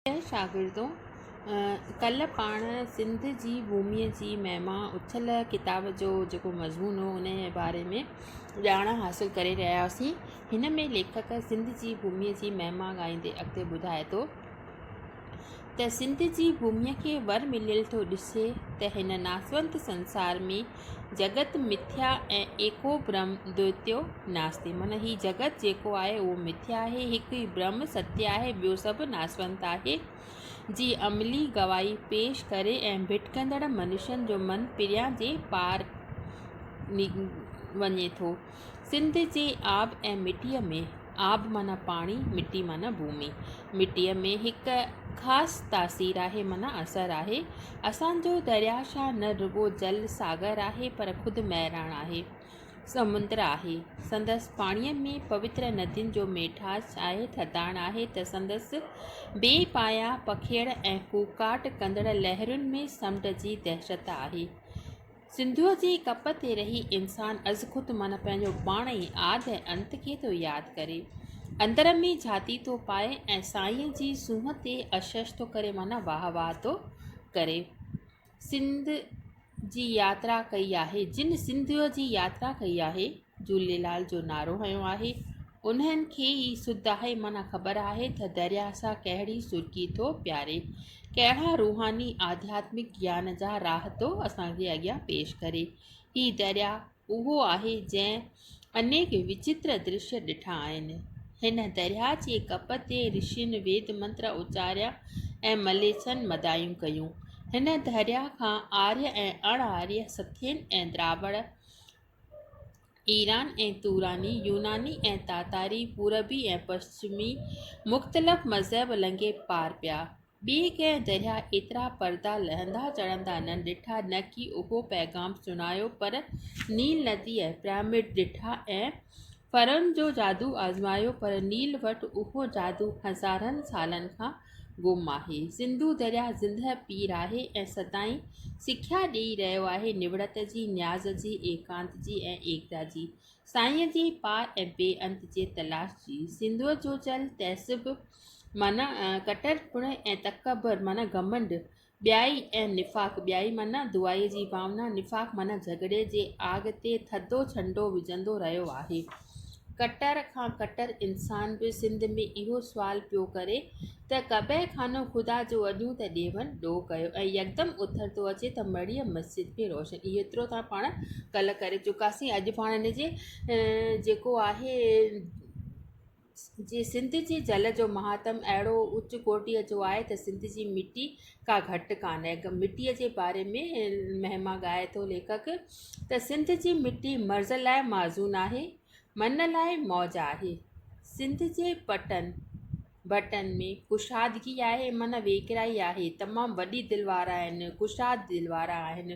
پريا شاگردو! ڪلهه پاڻ سنڌ جي ڀوميء جي مهما اٿل ڪتاب جو جيڪو مضمون هو ان جي باري ۾ ڄاڻ حاصل ڪري رهيا هئاسين. هن ۾ ليکڪ سنڌ جي ڀوميء جي مهما ڳائيندي اڳتي ٻڌائي ٿو ته سنڌ جي ڀوميء کي ور مليل ٿو ڏسي ته هن ناسوند سنسار ۾ جگت مٿيا ۽ ايڪو برهم دوئتيو ناستي معنيٰ هي جگت جيڪو آهي اهو مٿيا آهي هڪ ئي برهم ستيه آهي ٻيو سڀ ناسونت آهي جي عملي گواهي پيش ڪري ۽ ڀٽڪندڙ منشين جو من پريان جي پار وڃي ٿو سنڌ جي آب ۽ مٽيء ۾. آب معنيٰ پاڻي، مٽي معنيٰ ڀومي. مٽيء ۾ هڪ خاص تاثير آهي معنيٰ اثر آهي. اسان جو درياهه شاهه نه رڳو جل ساگر آهي پر خود مهراڻ آهي، سمنڊ آهي. سندس پاڻيء ۾ پوتر ندين جو ميٺاس آهي، ٿڌاڻ آهي ته سندس بي پايان پکيڙ ۽ ڪوڪاٽ ڪندڙ لهرن ۾ سمنڊ جي دهشت آهي. سنڌوء جي ڪپ تي رهي انسان ازخود معنيٰ پنهنجو پاڻ ئي آد ۽ انت کي ٿو ياد ڪري، اندر ۾ جهاتي ٿو پائي ۽ سائينء جي سونهن تي اشش ٿو ڪري معنيٰ واهه واهه ٿو ڪري. سنڌ جي ياترا ڪئي آهي، جن سنڌوء جي ياترا ڪئي آهي. جهوليلال جو نعرو هنيو آهي انهن کي ئي سڌ آهي معنيٰ خبر آهي تھ درياهه سان ڪهڙي سرڪي ٿو پياري ڪهڙا روحاني آڌياتمڪ گيان جا راهه ٿو اسان جي اڳيان پيش ڪري هي درياهه اهو آهي جنهن انيڪ وچتر درشي ڏٺا آهن هن درياهه جي ڪپ تي رشين ويد منتر اچاريا ۽ مليڇن مدايون ڪيون هن درياهه کان آريه ۽ اڻ آريه سٿين ۽ دراوڙ ايران ۽ توراني، يوناني ۽ تاتاري، پوربي ۽ پشچمي، مختلف مذهب لنگهي پار پيا. ٻي ڪنهن درياء ايترا پردا لهندا چڙهندا نه ڏٺا، نه ڪي اهو پيغام سڻايو، پر نيل ندي ۽ پرامڊ ڏٺا ۽ فرعون جو جادو آزمايو، پر نيل وٽ اهو جادو هزارن سالن کان گم آهي. سنڌو درياهه زندهه پير آهي ۽ سدائين سکيا ڏيئي رهيو آهي، نوڙت جي، نياز جي، ايڪانت جي ۽ ايڪتا جي، سائينء جي پار ۽ بي انت جي تلاش جي. سنڌوء جو چل، تعصب معنيٰ ڪٽر پڻ ۽ تڪبر معنيٰ گهمنڊ، ٻيائي ۽ نفاق، ٻيائي معنيٰ دعائيء جي ڀاونا، نفاق معنيٰ جهڳڙي جي آڳ تي ٿڌو ڇنڊو وجهندو رهيو آهي. ڪٽر کان ڪٽر انسان به سنڌ ۾ اهو سوال پيو ڪري ته قبه خانو خدا جو اڏيون ته ڏيون ڏو ڪيو ۽ يڪدم اٿر ٿو اچي ته مڙيء مسجد به روشن اهو ايترو ته پاڻ ڪلهه ڪري چڪاسين اڄ پاڻ ان جي جيڪو آهي جي سنڌ جي جل جو مهاتم اهڙو اچ ڪوٽيء جو آهي ته سنڌ جي مٽي ڪا گهٽ ڪانه هڪ مٽيء جي باري ۾ مهما ڳائي ٿو ليکڪ ته سنڌ جي مٽي مرض لاء معزون آهي من لاء موج آهي سنڌ جي پٽن ڀٽن ۾ ڪشادگي آهي من ويڪرائي آهي تمام وڏي دل وارا آهن ڪشاد دل وارا آهن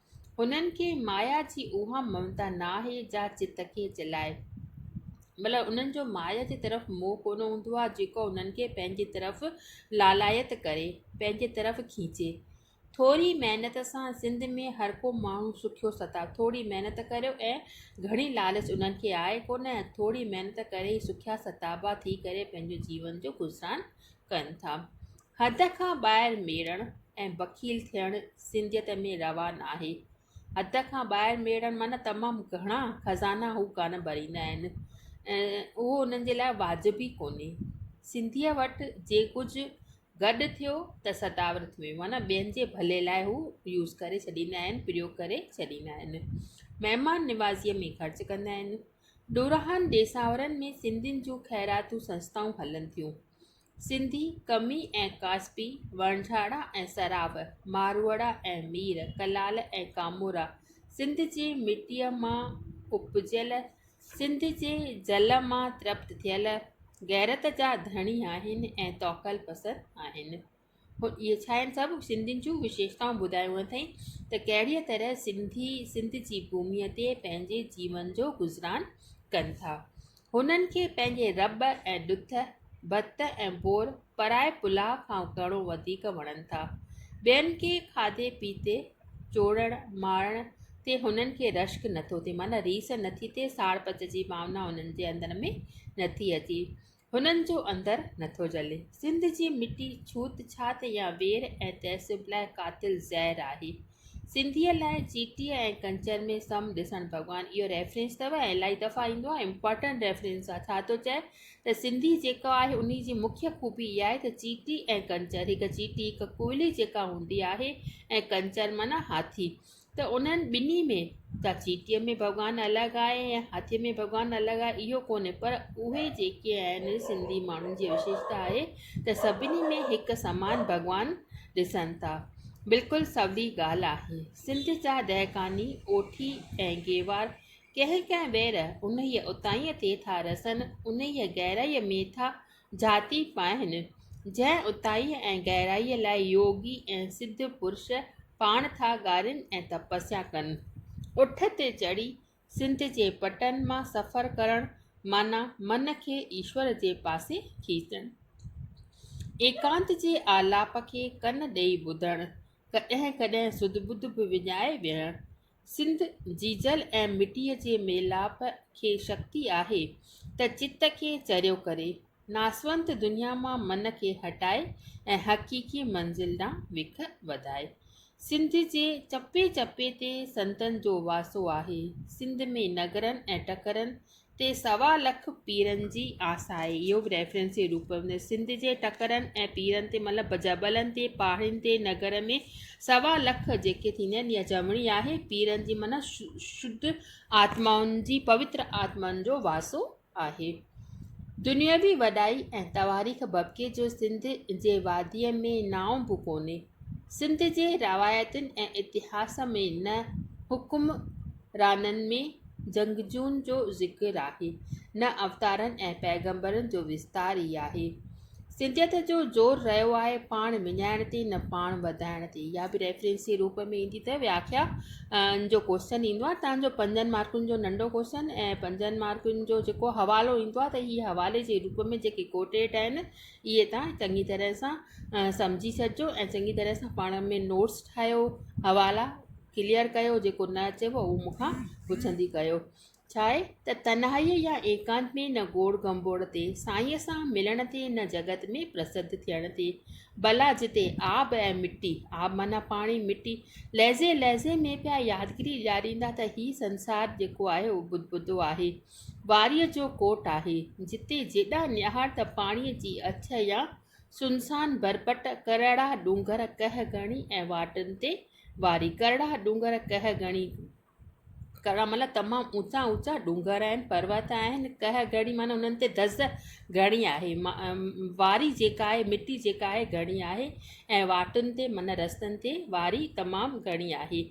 هنن کي مايا جي اها ممتا نه آهي جا چت کي چلائي. مطلب انهن جو مايا جي طرف موهه ڪونه هوندو آهي جيڪو انهن کي پنهنجي طرف لالائت ڪري، پنهنجي طرف کيچي. ٿوري محنت سان سنڌ ۾ هرڪو ماڻهو سکيو ستا. ٿوري محنت ڪريو ۽ گهڻي لالچ انهن کي آهي ڪونه. ٿوري محنت ڪري ئي سکيا ستابا ٿي ڪري پنهنجو جيون جو گذران ڪن ٿا. حد کان ٻاهر ميڙڻ ۽ بخيل ٿيڻ سنڌيت ۾ روا ناهي. حد کان ٻاهر ميڙڻ معنيٰ تمام گهڻا خزانا هو ڪانه ڀريندا آهن ۽ اهو انهن جي لاء واجب ئي ڪونهي. سنڌيء وٽ جي ڪجهه گڏ ٿيو ته سداور ٿيو ويو معنيٰ ٻين جي ڀلي لاء هو يوز ڪري ڇڏيندا آهن، پريوگ ڪري ڇڏيندا آهن. مهمان نوازيء ۾ خرچ ڪندا آهن. ڏورانهن ڏيساورن ۾ سنڌين جون خيراتون سنستائون هلن ٿيون. سنڌي، قمي ۽ ڪاسبي، وڻجهاڙا ۽ سراب، ماروئڙا ۽ مير، ڪلال ۽ ڪامورا، سنڌ جي مٽيء مان اپجيل، سنڌ جي جل مان ترپت ٿيل، غيرت جا ڌڻي آهن ۽ توڪل پسند آهن. اهي ڇا آهن؟ سڀ سنڌين جون وشيشتائون ٻڌايون اٿئي ته ڪهڙيء طرح سنڌي سنڌ جي ڀوميء تي پنهنجي جيون جو گذران ڪن ٿا. هنن کي پنهنجي رٻ ۽ ڏٿ، ڀت ۽ ڀور پرائي پلاء کان گهڻو وڌيڪ وڻن ٿا. ٻين کي کاڌي پيتي، چوڙڻ، مارڻ تي هنن کي رشڪ نه ٿو ٿئي، معنيٰ ريس نه ٿي ٿئي، ساڙ پچ جي ڀاونا هنن جي اندر ۾ نه ٿي اچي، هنن جو اندر نه ٿو جلي. سنڌ جي مٽي ڇوت ڇات يا وير ۽ تعصب لاء قاتل زهر آهي. سنڌيء لاء چيٽيء ۽ ڪنچر ۾ سم ڏسڻ ڀڳوان اهو ريفرنس اٿو ۽ الائي دفعا ايندو آهي امپارٽنٽ ريفرنس آهي ڇا ٿو چئي ته سنڌي جيڪو آهي انهي جي مکيه خوبي اها آهي ته چيٽي ۽ ڪنچر هڪ چيٽي هڪ ڪوئلي جيڪا هوندي آهي ۽ ڪنچر معنيٰ هاٿي ته انهن ٻنهي ۾ ڇا چيٽيء ۾ ڀڳوان الڳ آهي ۽ هاٿيء ۾ ڀڳوان الڳ آهي اهو ڪونهي پر اهي جيڪي آهن سنڌي ماڻهن جي وشيشتا آهي ته سڀني ۾ هڪ سمان ڀڳوان ڏسن ٿا بلڪل سولي ڳالهه آهي. سنڌ جا دهقاني اوٺي ۽ گيوار ڪنهن ڪنهن وير انهيء اتاهينء تي ٿا رسن، انهيء گهرائيء ۾ ٿا جهاتي پائن، جنهن اتاهيء ۽ گهرائيء لاء يوگي ۽ سڌ پرش پاڻ ٿا ڳارين ۽ تپسيا ڪن. اٺ تي چڙهي سنڌ جي پٽن مان سفر ڪرڻ معنيٰ من کي ايشور جي پاسي کيچڻ. ايڪانت جي آلاپ کي ڪن ڏئي ٻڌڻ، ڪڏهن ڪڏهن سڌ ٻڌ به وڃائي ويهڻ. سنڌ جي جل ۽ مٽيء جي ميلاپ کي شڪتي آهي ته چت کي چريو ڪري، ناسونت دنيا مان من کي هٽائي ۽ حقيقي منزل ڏانهن وک وڌائي. سنڌ جي چپي چپي تي سنتن جو واسو آهي. سنڌ ۾ نگرن ۽ ٽڪرن تي سوا لک پيرن جي آس آهي. اهو به ريفرنس جي روپ ۾ سنڌ جي ٽڪرن ۽ پيرن تي مطلب جبلن تي، پاڙين تي، نگر ۾ سوا لک جيڪي ٿيندا آهن يا چوڻي آهي پيرن جي معنيٰ شڌ آتمائن جي، پوتر آتمائن جو واسو آهي. دنيوي وڏائي ۽ تواريخ ببڪي جو سنڌ جي واديء ۾ نانء به ڪونهي. سنڌ جي روايتن ۽ اتهاس ۾ نه حڪمرانن ۾ جنگجوئن جو ذڪر آهي، نه اوتارن ۽ پيغمبرن جو وستار ئي آهي. سنڌيت جو زور رهيو آهي پاڻ وڃائڻ تي نه پاڻ وڌائڻ تي اها به ريفرنس جي روپ ۾ ايندي اٿئي وياکيا جو ڪوشچن ايندو آهي تان جو پنجن مارڪن جو ننڍو ڪوشچن ۽ پنجن مارڪن جو جيڪو حوالو ايندو آهي ته هي حوالي جي روپ ۾ جيڪي ڪوٽيٽ آهن اهي تان چڱي طرح سان سمجهي ڇڏجو ۽ چڱي طرح سان پاڻ ۾ نوٽس ٺاهيو حوالا ڪليئر ڪيو جيڪو نه اچيو اهو مون کان پڇندي ڪيو ڇاهي ته تنهائيء يا ايڪانت ۾ نه گوڙ گنڀوڙ تي سائينء سان ملڻ تي نه جڳت ۾ پرسڌ ٿيڻ تي ڀلا جتي آب ۽ مٽي، آب معنيٰ پاڻي مٽي، لحظي لحظي ۾ پيا يادگيري ڏياريندا ته هي سنسار جيڪو آهي اهو بدبودو آهي، واريء جو ڪوٽ آهي، جتي جيڏا نهار ته پاڻيء جي اڇ يا سنسان ڀرپٽ، ڪرڙا ڏونگر ڪهه گهڻي ۽ واٽن تي واري، ڪرڙا ڏونگر ڪهه گهڻي، ڪرڻ مھل تمام اوچا اوچا ڏونگر آھن پروت آھن ڪهه گهڻي معنيٰ انهن تي دز گهڻي آھي واري جيڪا آھي مٽي جيڪا آھي گهڻي آھي ۽ واٽن تي معنيٰ رستن تي واري تمام گهڻي آھي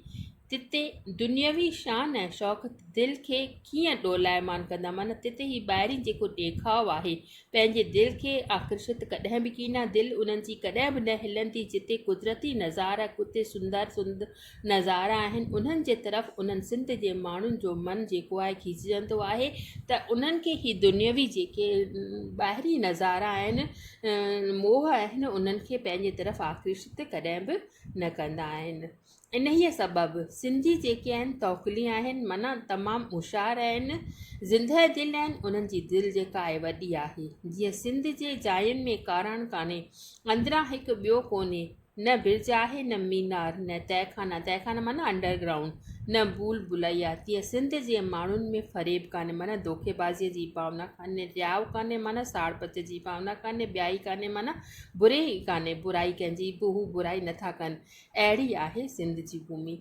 تتي دنيوي شان ۽ شوق دل کي ڪيئن ڏولائيمان ڪندا معنيٰ تتي هي ٻاهري جيڪو ڏيکاء آھي پنهنجي دل کي آڪرشت ڪڏهن به ڪينا دل انهن جي ڪڏهن به نه هلندي جتي قدرتي نظارا ڪتي سندر سندر نظارا آهن انهن جي طرف انهن سنڌ جي ماڻهن جو من جيڪو آهي کيچجندو آهي ته انهن کي هي دنيوي جيڪي ٻاهرين نظارا آهن موهه آهن انهن کي پنهنجي طرف آڪرشت ڪڏهن به نه ڪندا آهن انهيء سبب سنڌي جيڪي آهن توڪلي آهن معنيٰ تمام هوشيار آهن زندهه دل آهن انهن جي دل جيڪا آهي وڏي آهي جيئن سنڌ جي جاين ۾ ڪاراڻ ڪانهي اندران هڪ ٻيو ڪونهي نه برج آهي نه مينار نه تهخانه، تهخانه معنيٰ انڊر گرائونڊ، نه ڀول ڀلائيا، تيئن سنڌ جي ماڻهن ۾ فريب ڪانهي معنيٰ ڌوڪي بازيء جي ڀاونا ڪانهي، رياء ڪانهي معنيٰ ساڙ پچ جي ڀاونا ڪانهي، ٻيائي ڪانهي معنيٰ بري ئي ڪانهي، برائي ڪنهن جي به هو برائي نٿا ڪن، اهڙي آهي سنڌ جي ڀومي.